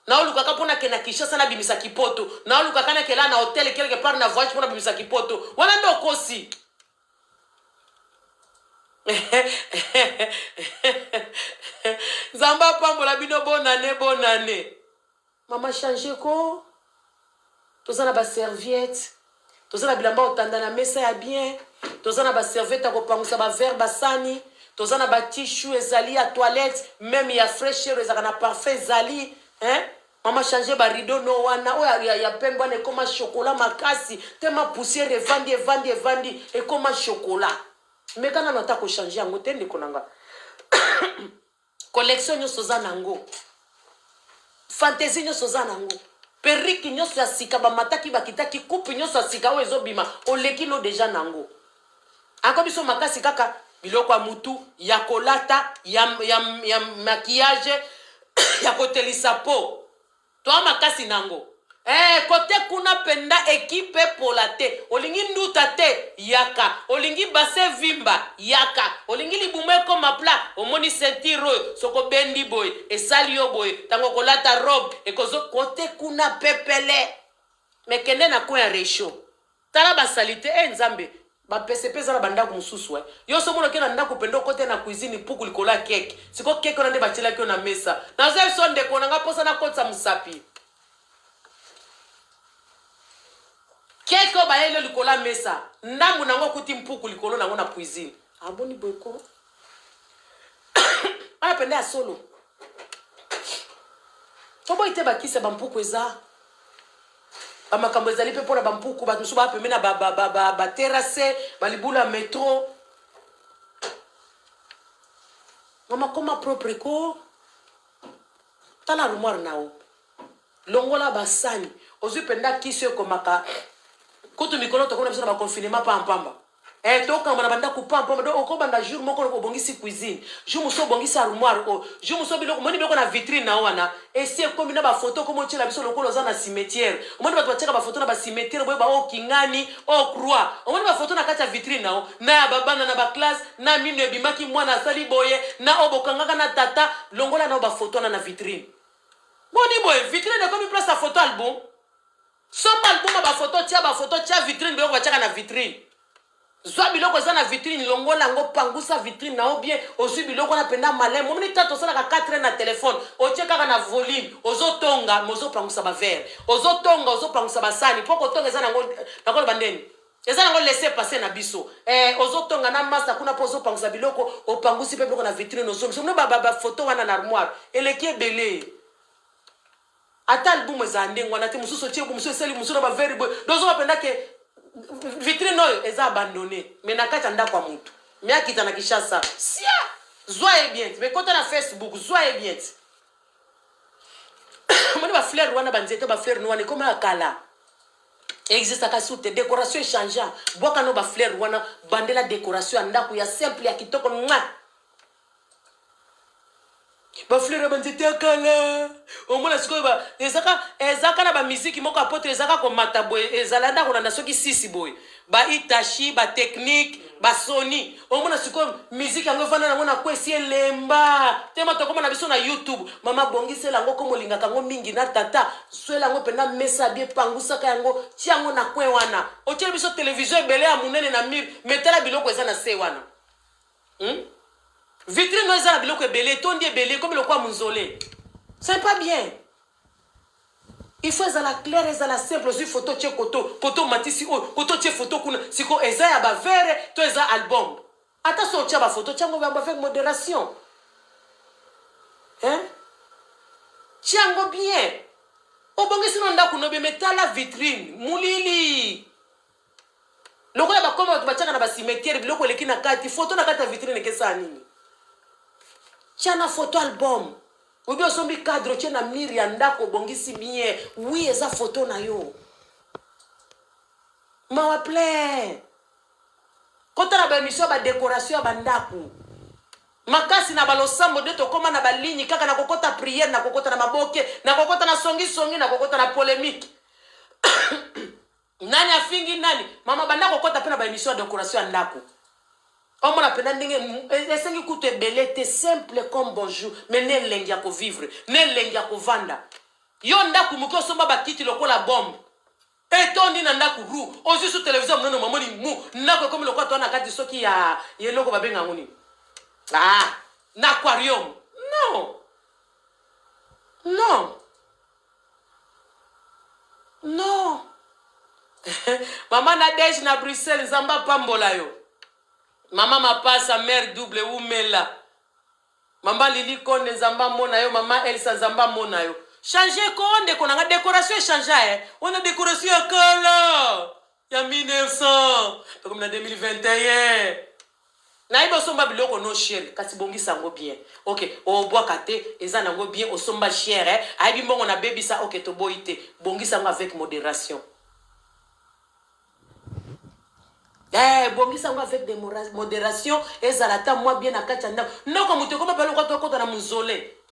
Nao luka ka pona kenda Kinshasa na bimisa ki poto nao luka ka na kela na hotel quelque part na voyage pona bimisa ki poto wana nde okosi Nzambe apambola bino bonne annee bonne annee. Maman change ko toza na ba serviette toza na bilamba otanda na mesa ya bien toza na ba serviette ya kopangusa ba verre basani toza na ba tishu ezali ya toilette meme ya fresher ezalaka na parfum ezali hein mama change ba rideau no wana oyo ya, ya pembe wana ekoma chocolat makasi te ma poussière evandi evandi evandi ekoma chocolat meka nano ata kochange yango te ndeko na nga Collection nyoso oza nango. Fantaisie nyoso oza nango. Perruque nyoso ya sika ba mataki ba kitaki coupe nyoso ya sika oyo ezo bima oleki no deja nango. Ako biso makasi kaka biloko ya mutu ya kolata ya ya, ya maquillage ya kotelisa po. Toi makasi nango eh cote kuna penda equipe epola te olingi nduta te yaka olingi bassin evimba yaka olingi libumu ekoma plat omoni ceinture oyo soki obendi boye esali yo boye tangu okolata robe ekozo cote kuna pepele mais kende na coin ya rechaud Tala ba salite eh nzambe. Ba pese pe eza na ba ndaku mususu eh yo somo noke na ndaku pende okote na cuisine ipuku likolo ya cake sikoyo cake wana nde ba tielaki yo na mesa naza yo so ndeko na nga posa na kotisa musapi cake oyo bayeli yo likolo ya mesa ndambu na ngo okuti mpuku likolo na ngo na cuisine aboni boko wana pende ya solo toboyi te bakisa bampuku eza ba makambo ezali mpe mpo na bampuku bato mosusu baa pembe na baterase ba, ba, ba, ba libulu ya metro mama koma propre ko tala armoire na yo longola basani ozwi mpenza kisi ekomaka kutu mikolo tokomi na biso na baconfinement pampamba Eh tokamba na bandako pam pam donc okobanda jour moko lokola obongisi cuisine jour mosusu obongisi armoire oyo oh. jour mosusu biloko omoni biloko na vitrine na wana esi ekomi na bafoto okomi otyela biso lokola oza na cimetière omoni bato batyaka bafoto na bacimetière boyeba o oh, kingani o oh, croix omoni bafoto na kati ya vitrine na yo na ya babana na baklasse na mino ebimaki mwana asali boye na oyo bokangaka na tata longola na yo bafoto wana na vitrine boni boye vitrine ekomi place ya foto album Somba album ya ba photo tia ba photo tia vitrine biloko batiaka na vitrine. Zwa biloko eza na vitrine longola yango pangusa vitrine na yo bien ozwi biloko wana penda malin momoni tata osalaka 4 heures na telephone otie kaka na volume ozo tonga mais ozo pangusa ba verre ozo tonga ozo pangusa ba sani po kotonga eza nango nakolo bandeni eza nango laisser passer na biso eh ozo tonga na masta kuna po ozo pangusa biloko opangusi pe biloko na vitrine ozongisa no ba ba photo wana na armoire eleki ebele Ata album ezala ndenge wana te mususu otie boye mususu esali mususu na ba veri boye donc ozoba penda ke vitrine oyo eza abandonne mais na kati ya ndako ya mutu mais akita na Kinshasa sia zwa ye bien ti mais kota na Facebook zwa ye bien ti omoni ba fleur wana ba nzete ba fleur no wana ekoma ya kala existaka su te decoration echangea bwaka no ba fleur wana bandela decoration ya ndako ya simple ya kitoko mwa ba fleur ya banzete ya kala omona sikoyo ba ezaka ezaka na bamiziki moko ya poto ezaka komata boye ezala nda kolanda soki sisi boye ba itachi ba technique ba soni omona sikoyo miziki yango efanda nango na kwesi elemba tema tokoma na biso na youtube mama bongisela yango komo olingaka yango mingi na tata swela yango mpena mesa bie pangusaka yango tia yango na kwe wana otyeli biso televizio ebele ya monene na mire metala biloko eza na se wana Hmm? Vitrine no eza na biloko ebele, etondi ebele, ekomi lokola munzole. C'est pas bien. Il faut ezala clair, ezala simple, ozui photo tse koto, koto matisi oyo, koto tse photo kuna, siko eza ya ba verre to eza album. Ata so otya ba photo, tyango yango avec moderation. Hein? Tyango bien. Obongisi no ndako no bien, mais tala vitrine, mulili. lokola bakoma bato batiaka na basimetiere biloko eleki na kati foto na kati ya vitrine ekesala nini tya na foto album oyebi osombi cadre otye na mire ya ndako obongisi bien wi eza foto na yo mawa plein kotala baemission ya badekoration ya bandako makasi na balosambo nde tokóma na baligne kaka na kokota priere na kokota na maboke na kokota na songisongi na kokota na polemike Nani afingi nani? Maman banda kokota pe na ba emission ya decoration ya ndako. Omona pena ndenge esengi kutu ebele te simple comme bonjour mais na elengi ya ko vivre, na elengi ya kovanda. Yo ndako muke osomba ba kiti lokola bombe etondi na ndako ru ozui su television ya munene mamoni mu ndako ekomi lokola toza na kati soki ya ya eloko babenga yango nini ah na aquarium non non Non. Maman Nadège na Bruxelles, Nzambe apambola yo. Maman Mapasa, mère double, wumela. Maman Lili Konde, Nzambe amona yo. Maman Elsa, Nzambe amona yo. Change ko ndeko na nga, decoration echangea eh. Wana decoration ya kala. ya 1900 tokomi na 2021 nayebi osomba biloko no chiel kasi bongisa yango bien ok obwaka te eza nango bien osomba chier eh? ayebi mbongo na bebisa ok toboyi te bongisa yango avec moderation Eh, bongisa yango avec de moderation ezala ata mwa bien na kati ya ndako noko moto ekoma pale okota okota na mozole